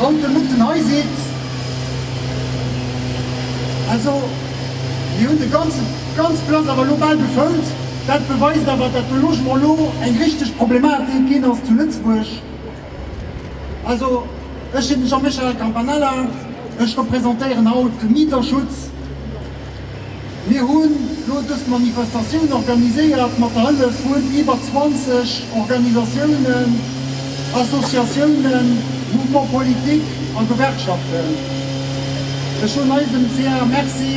Haut de Mutten hei sidd. Also mir hunn de ganze ganz Place awer elo bal gefëllt. Dat beweist awer, datt de Logement elo eng richteg Problematik ginn ass zu Lëtzebuerg. Also ech sinn de Jean-Michel Campanella, ech representéieren haut de Mieterschutz. Mir hunn elo dës Manifestatioun organiséiert mat der Hëllef vun iwwer 20 Organisatiounen, Associatiounen, Mouvements politiques a Gewerkschaften. Ech soen eisem ca Merci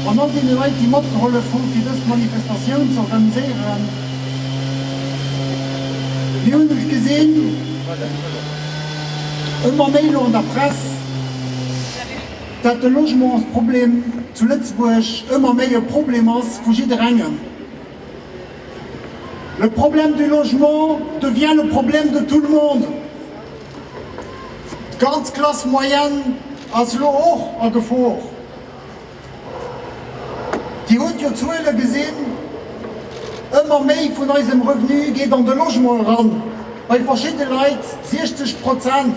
an all deene Leit, déi matgehollef hu fir dës Manifestatioun ze organiséieren. Mir hunn et gesinn, ëmmer méi elo an der Press. dat de Logementsproblem zu Lëtzebuerg ëmmer méi e Problem ass vu jidderengem. Le problème du logement devient le problème de tout le monde. D'ganz Classe moyenne ass elo och a Gefor. Dir hutt jo d'Zuele gesinn, ëmmer méi vun eisem Revenu geet an de Logement eran, bei verschidde Leit 60 Prozent.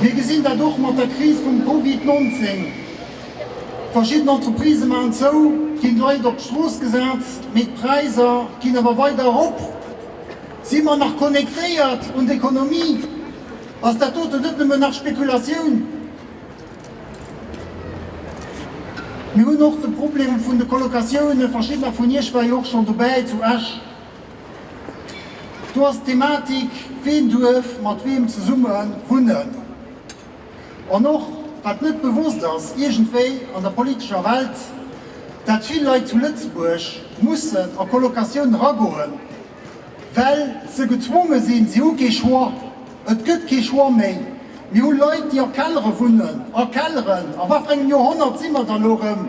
Mir gesinn dat och mat der Kris vum Covid 19. Verschidden Entreprisë maachen zou, ginn d'Leit op d'Strooss gesat, mee d'Präisser ginn awer weider erop. Si mer nach connectéiert un d'Ekonomie? Ass dat doten net nëmmen nach Spekulatioun? Mir hunn och de Problem vun de Colocatiounen. Verschiddener vun Iech war jo och schonn dobäi zu Esch. Do ass d'Thematik, ween duerf mat weem zesumme wunnen. An och, wat net bewosst ass iergendwéi an der politescher Welt, dat vill Leit zu Lëtzebuerg mussen a Colocatioun eragoen, well se gezwonge sinn, si hu kee Choix, et gëtt kee Choix méi. Mir hu Leit, déi a Kellere wunnen, a Kelleren, a wat fir engem Joerhonnert si mer da elo erëm?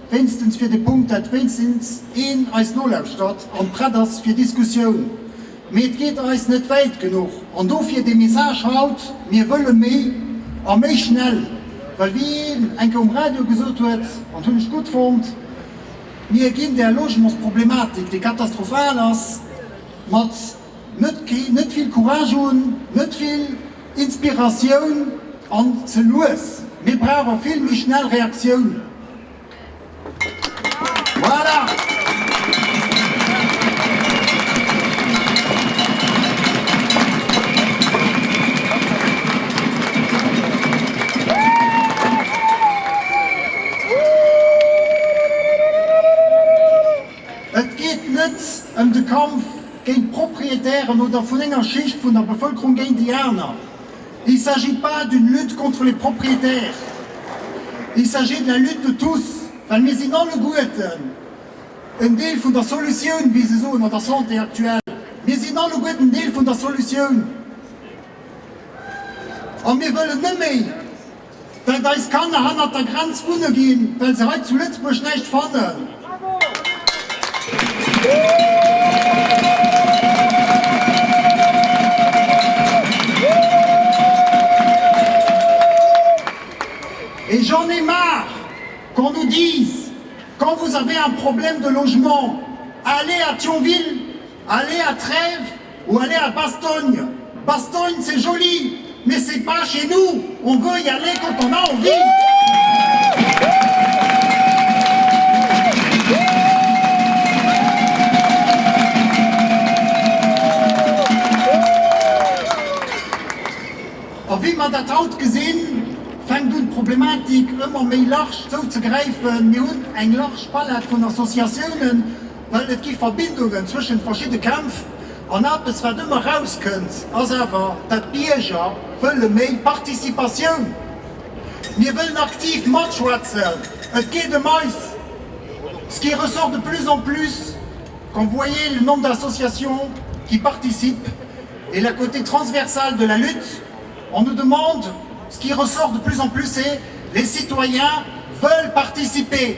wéinstens fir de Punkt, dat wéinstens een eis nolauschtert an prett ass fir Diskussioun. Mee et geet eis net wäit genuch an dofir de Message haut, mir wëlle méi a méi schnell, well wéi een eng Kéier um Radio gesot huet, an hunn ech gutt fonnt, mir ginn där Logementsproblematik, déi katastrophal ass, mat. Net kee, net vill Courage hunn, net vill Inspiratioun an ze lues. Mir brauche vill méi schnell Reaktiounen. Voilà! Et geet net ëm de Kampf géint d'Proprietären oder vun enger Schicht vun der Bevëlkerung géint déi aner. Il s'agit pas d'une lutte contre les propriétaires, il s'agit de la lutte de tous, well mir sinn alleguerten en Deel vun der Solutioun, wéi se soen an der Santé aktuell. Mir sinn alleguerten en Deel vun der Solutioun a mir wëllen neméi, Well eis Kanner hannert der Grenz wunne ginn, well se hei zu Lëtzebuerg näischt fannen. Et j'en ai marre qu'on nous dise, quand vous avez un problème de logement, allez à Thionville, Allez à trèves ou allez à bastogne, bastogne c'est joli mais c'est pas chez nous, on veut y aller quand on a envie. A wéi mer dat haut gesinn, fänkt un d'Problematik ëmmer méi large zouzegräifen. Mir hunn eng large Palette vun Associatiounen, well et gi Verbindungen zwëschent verschidde Kämpf an eppes wat ëmmer rauskënnt ass awer dat d'Bierger wëlle méi Participatioun. Mir wëllen aktiv matschwätzen, et geet ëm eis. Ce qui ressort de plus en plus quand vous voyez le nombre d'associations qui participent et la côté transversale de la lutte, on nous demande, ce qui ressort de plus en plus c'est les citoyens veulent participer.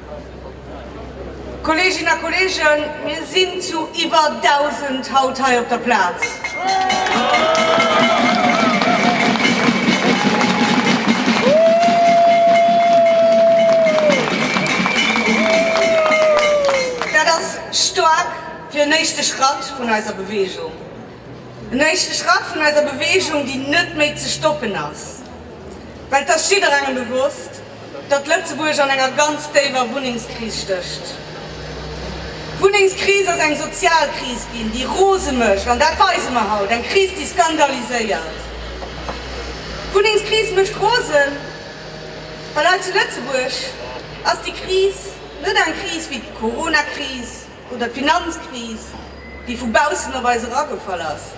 Kolleeginnen a Kolleegen, mir sinn zu iwwer 1.000 haut hei op der Plaz. Dat ass staark fir en éischte Schratt vun eiser Beweegung. En éischte Schratt vun eiser Beweegung, déi net méi ze stoppen ass, well et ass jidderengem bewosst, datt Lëtzebuerg an enger ganz déiwer Wunnengskris stécht. D'Wunnengskris ass eng sozial Kris ginn, déi rose mécht, an dat weise mer haut, eng Kris, déi skandaliséiert. D'Wunnengskris mécht rose, well hei zu Lëtzebuerg ass déi Kris net eng Kris wéi d'Coronakris, Oder d'Finanzkris, déi vu baussen op eis eragefall ass?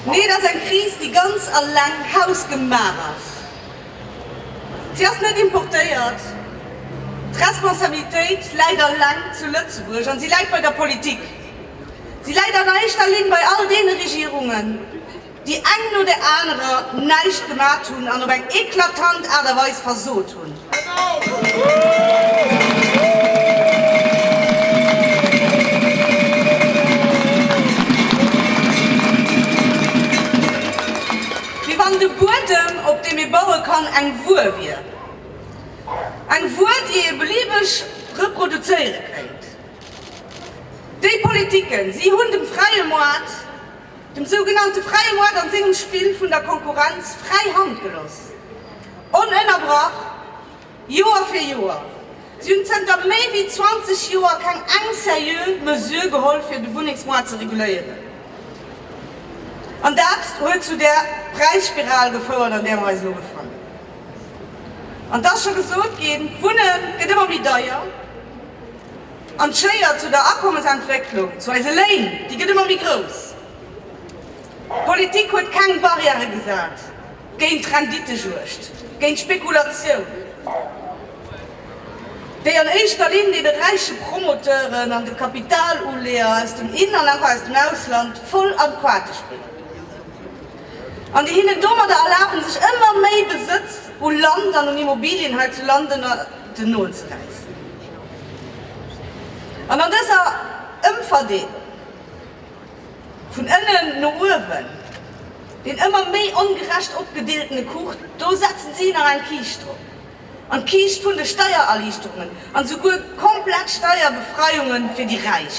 Nee, et ass eng Kris, déi ganz alleng hausgemaach ass. Si ass net importéiert. D'Responsabilitéit läit alleng zu Lëtzebuerg an si läit bei der Politik. Si läit an éischter Linn bei all deene Regierungen, déi eng no der anerer näischt gemat hunn an op eng eklatant Aart a Weis versot hunn. Wéi wann de Buedem, op deem ee baue kann, eng Wuer wier. Eng Wuer, déi ee beliebeg reproduzéiere kéint. Déi Politiken, si hunn dem fräie Moart Dem sougenannte fräie Moart an sengem Spill vun der Konkurrenz fräi Hand gelooss. Onënnerbrach, Joer fir Joer. Si hunn zënter méi wéi 20 Joer keng eng seriö Mesure geholl fir de Wunnengsmoart ze reguléieren. An dat huet zu där Präisspiral gefouert an där mer eis elo befannen. An et ass scho gesot ginn, D'Wunne gëtt ëmmer méi deier. An d'Schéier zu der Akommesentwécklung, zu eise Léin, déi gëtt ëmmer méi grouss. D'Politik huet keng Barrièrë gesat géint d'Rendittejuegd, géint d'Spekulatioun, déi an éischter Linn deene räiche Promoteuren an de Kapitaluleeër aus dem In an och aus dem Ausland voll an d'Quate spillen an déi hinnen domadder erlaben, sech ëmmer méi Besëtz u Land an un Immobilien hei zu London nozeräissen. An an dëser Ëmverdeelung vun ënnen no uewen, deen ëmmer méi ongerecht opgedeeltene Kuch, do setzen si nach eng Kiischt drop, an d'Kiischt vun de Steiererliichterungen, an esouguer komplett Steierbefreiunge fir déi Räich.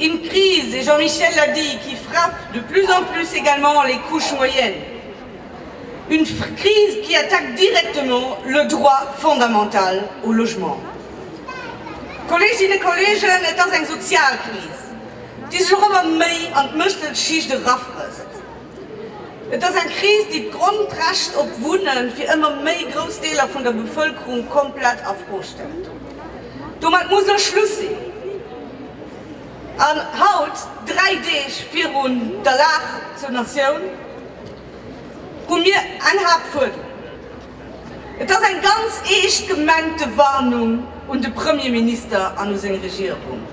Une crise, et Jean-Michel l'a dit, qui frappe de plus en plus également les couches moyennes. Une crise qui attaque directement le droit fondamental au logement. Kolleeginnen, Kolleegen, et ass eng Sozialkris, déi sech och ëmmer méi an d'Mësselschicht erafrësst. Et ass eng Kris, déi d'Grondrecht op Wunne fir ëmmer méi grouss Deeler vun der Bevëlkerung komplett a Fro stellt. Domat muss elo Schluss sinn! An haut, dräi Deeg virun der Lag zur Natioun, hu mir eng Haaptfuerderung. Et ass eng ganz eescht gemengte Warnung un de Premierminister an u seng Regierung,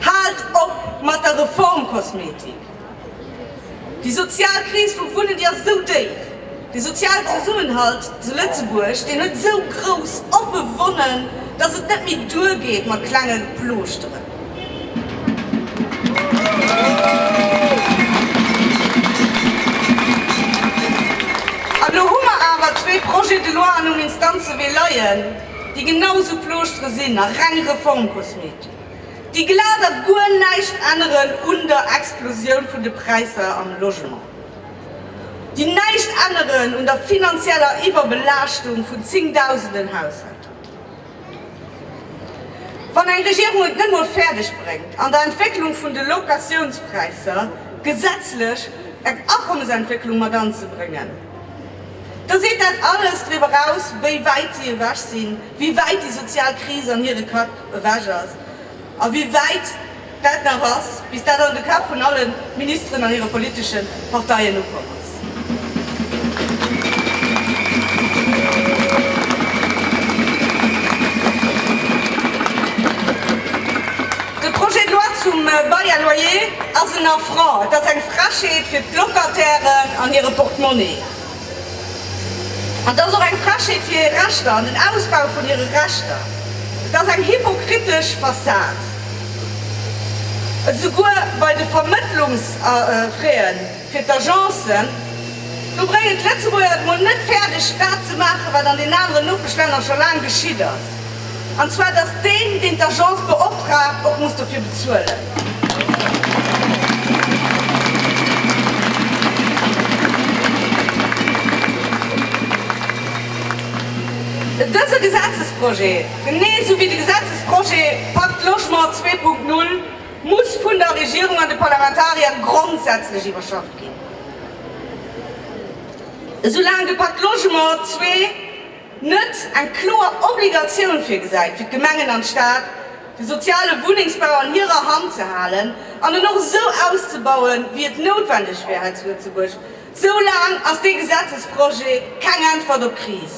Haalt op mat der Reformkosmetik! Déi sozial Kris vum Wunnen, déi ass esou déif, de sozialen Zesummenhalt zu Lëtzebuerg, deen huet esou grouss oppe Wonnen, datt et net méi duergeet mat klenge Plooschteren. An elo hu mer awer zwee Projets de loi an um Instanzewee leien, déi genau esou Plooschteren sinn a reng Reformkosmetik. Déi glat a guer näischt änneren un der Explosioun vun de Präisser am Logement, déi näischt änneren un der finanzieller Iwwerbelaaschtung vun zéngdausenden Haushälter. Wann eng Regierung et net mol fäerdeg bréngt, an der Entwécklung vun de Locatiounspräisser gesetzlech eng Akommesentwécklung mat anzebréngen, da seet dat alles driwwer aus, wéi wäit si ewech sinn wéi wäit déi sozial Kris an hire Kapp ewech ass a wéi wäit dat nach ass, bis dat an de Kapp vun alle Ministeren an hire politesche Parteien ukomm ass. De Projet de loi zum Bail à loyer ass en Affront, et ass eng Frechheet fir d'Locatairen an hire Portemonnaie. An et ass och eng Frechheet fir hir Rechter an den Ausbau vun hire Rechter. Et ass eng hypokritesch Fassad. Esouguer bei de Vermëttlungsfraien fir d'Agencen, do bréngen d'Lëtzebuerger et mol net fäerdeg, dat ze maachen, wat an den aneren Nopeschlänner scho laang geschitt ass. An zwar, dass deen, deen d'Agence beoptraagt, och muss dofir bezuelen. Dëse Gesetzesprojet, genee esou wéi de Gesetzesprojet Pacte Logement 2.0, muss vun der Regierung an de Parlamentarier grondsätzlech iwwerschafft ginn. Esoulaang de Pacte Logement 2. net eng kloer Obligatioun virgesäit fir d'Gemengen an d'Stad, de soziale Wunnengsbau an hirer Hand ze halen an en och esou auszebauen, wéi et noutwendeg wär hei zu Lëtzebuerg, esou laang ass dee Gesetzesprojet keng Äntwert op d'Kris.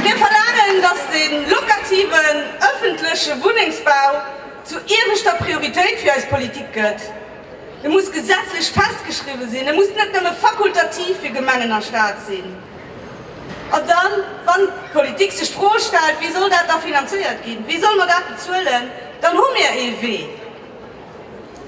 Mir verlaangen, datt de lokativen ëffentleche Wunnengsbau, zur ieweschter Prioritéit fir eis Politik gëtt. E muss gesetzlech festgeschriwwe sinn, e muss net nëmme fakultativ fir Gemengen a Stad sinn. An dann, wann d'Politik sech d'Fro stellt, wéi soll dat da finanzéiert ginn, wéi solle mer dat bezuelen, dann hu mir ee Wee.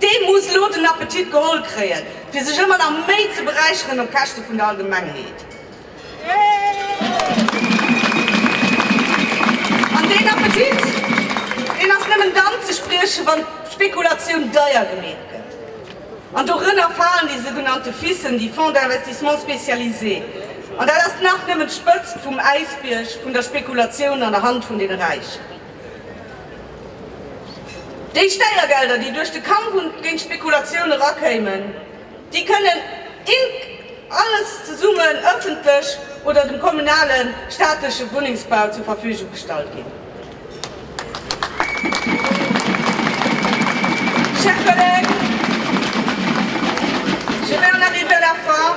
Dee muss elo den Appetit geholl kréien, fir sech ëmmer nach méi ze beräicheren op Käschte vun der Allgemengheet. An deen Appetit, deen ass nëmmen dann ze spriechen, wann d'Spekulatioun deier gemeet gëtt. An dorënner falen déi sougenannte FISen, déi Fonds d'investissements spécialisés. An dat ass nach nëmmen d'Spëtzt vum Äisbierg vun der Spekulatioun an der Hand vun deene Räichen. Déi Steiergelder, déi duerch de Kampf géint d'Spekulatioun erakéimen, déi kënnen ink. Alles zesummen ëffentlech oder dem kommunale, staatleche Wunnengsbau zur Verfügung gestallt ginn. Chers collègues, je vais en arriver à la fin.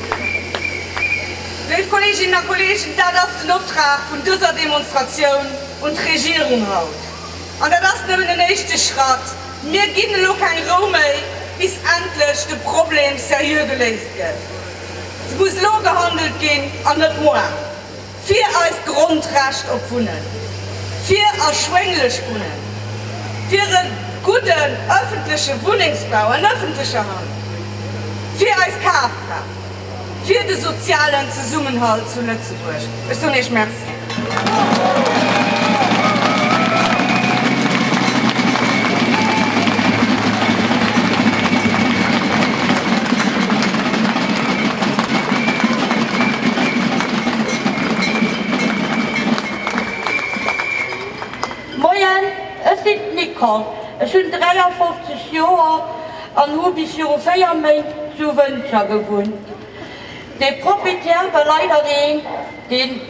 Léif Kolleeginnen a Kolleegen, dat ass den Optrag vun dëser Demonstratioun un d'Regierung haut. An dat ass nëmmen en éischte Schratt. Mir ginn elo keng Rou méi, bis endlech de Problem seriö geléist gëtt. Et muss elo gehandelt ginn an net moar. Fir eist Grondrecht op Wunnen, fir erschwénglecht Wunnen, fir e gudden ëffentleche Wunnengsbau an ëffentlecher Hand, fir eis Kafkraaft, fir de sozialen Zesummenhalt zu Lëtzebuerg. Ech soen Iech Merci. Moien, ech sinn d'Nicole, ech hunn 53 Joer an hu bis viru 4 Méint zu Wëntger gewunnt. De Proprietär war leider een, dee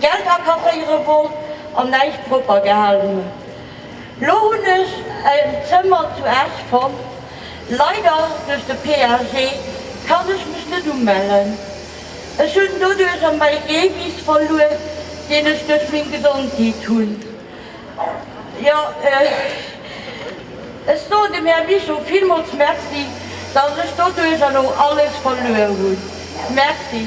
Geld akasséiere wollt an näischt propper gehalen huet. Lo hunn ech en Zëmmer zu Esch fonnt. Leider duerch de PAG kann ech mech net umellen. Ech hunn doduerch rëm mäi Gebis verluer, deen ech duerch meng Gesondheet hunn. Jo, ech soen dem Här Bischof villmools Merci, dass ech doduerch elo alles verluer hunn. Merci.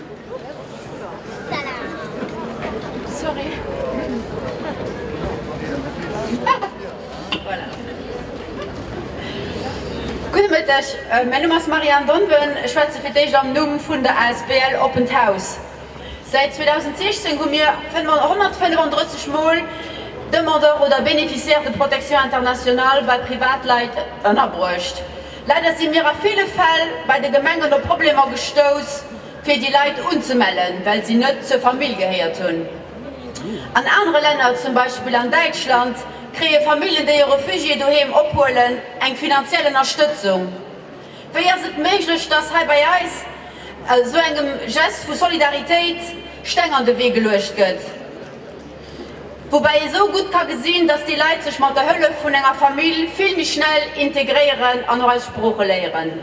Gudde Mëtteg, mäin Numm ass Marianne Donwen. Ech schwätze fir d'éischt am Numm vun der asbl Oppent Haus. Säit 2016 hu mir 135 Mol Demandeur oder Bénéficiaire de protection internationale bei Privatleit ënnerbruecht. Leider si mir a ville Fäll bei de Gemengen op Problemer gestouss, fir déi Leit unzemellen, well si net zur Famill gehéiert hunn. An anere Länner, zum Beispill an Däitschland, kréie Famillen, déi e Refugié doheem ophuelen, eng finanziell Ënnerstëtzung. Wéi ass et méiglech, dass hei bei eis esou engem Geste vu Solidaritéit Steng an de Wee geluecht gëtt? Woubäi ee sou gutt ka gesinn, dass déi Leit sech mat der Hëllef vun enger Famill vill méi schnell integréieren an och eis Sprooche léieren.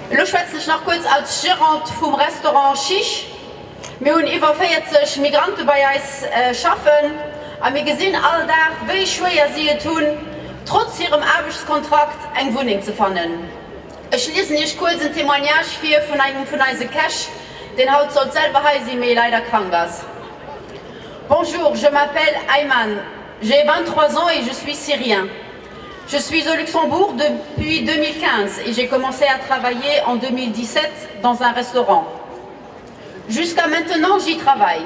Elo schwätzen ech nach kuerz als Gérante vum Restaurant Chiche. Mir hunn iwwer 40 Migrante bei eis schaffen a mir gesinn all Dag, wéi schwéier si et hunn, trotz hirem Aarbechtskontrakt eng Wunneng ze fannen. Ech liesen iech kuerz en Témoignage vir vun engem vun eise Käch, deen haut sollt selwer hei sinn, mee leider krank ass. Bonjour, je m'appelle Ayman, j'ai 23 ans et je suis syrien. Je suis au Luxembourg depuis 2015 et j'ai commencé à travailler en 2017 dans un restaurant. Jusqu'à maintenant j'y travaille.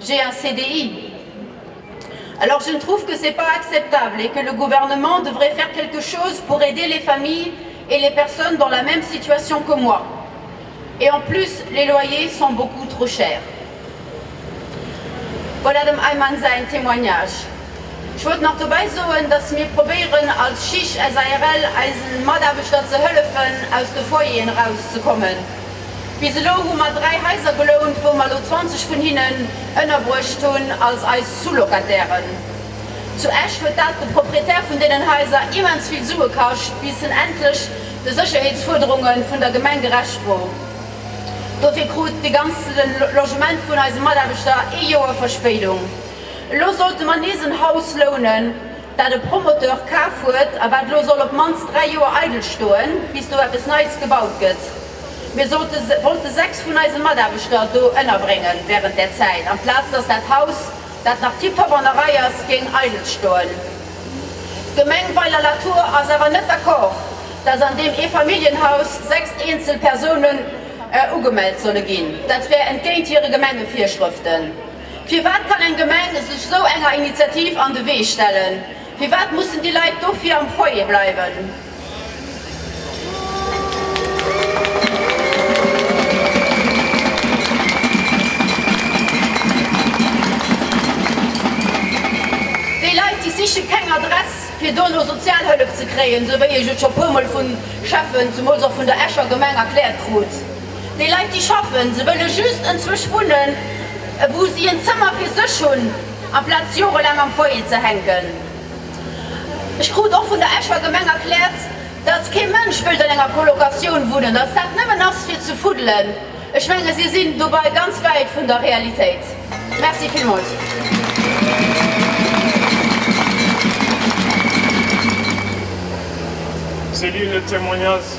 J'ai un CDI. Alors je ne trouve que c'est pas acceptable et que le gouvernement devrait faire quelque chose pour aider les familles et les personnes dans la même situation que moi. Et en plus, les loyers sont beaucoup trop chers. Voilà dem Ayman säin Témoignage. Ech wollt nach dobäi soen, dass mir probéieren als Chich SARL eisen Mataarbechter ze hëllefen aus de Foyeren eraus ze kommen. Bis elo hu mer dräi Haiser gelount, wou mer elo 20 vun hinnen ënnerbruecht hunn als eis Sous-Locatairen. Zu Esch huet dat de Proprietär vun deenen Haiser immens vill Sue kascht, bis en endlech de Sécherheetsfuerderunge vun der Gemeng gerecht wor. Dofir krut de ganze Logement vun eise Mataarbechter ee Joer Verspéidung. Elo sollte mer nees en Haus lounen. dat e Promoteur kaf huet a wat lo soll op d'mannst dräi Joer eidel stoen, bis do eppes Neies gebaut gëtt. Mir sollte, wollte sechs vun eise Mataarbechter do ënnerbrénge wärend där Zäit, amplaz dass dat Haus, dat nach tiptop an der Rei ass, géing eidel stoen. D'Gemeng Weiler-Latour ass awer net d'accord, dass an deem Eefamilljenhaus sechs eenzel Persounen ugemellt solle ginn. Dat wär entgéint hire Gemengevirschrëften. Firwat kann eng Gemeng sech esou enger Initiativ an de Wee stellen? Firwat mussen déi Leit dofir am Foyer bleiwen? Déi Leit, déi siche keng Adress, fir dono Sozialhëllef ze kréien, esou wéi ech et scho puermol vu Schäffen, zemools och vun der Escher Gemeng, erkläert krut. Déi Leit, déi schaffen, se wëlle just enzwusch wunnen, wou si en Zëmmer fir sech hunn, amplaz jorelaang am Foyer ze hänken. Ech krut och vun der Escher Gemeng erkläert, dass kee Mënsch wëllt an enger Colocatioun wunnen, dass dat nëmmen ass fir ze fuddelen. Ech menge si sinn dobei ganz wäit vun der Realitéit. Merci villmools. Céline, le témoignage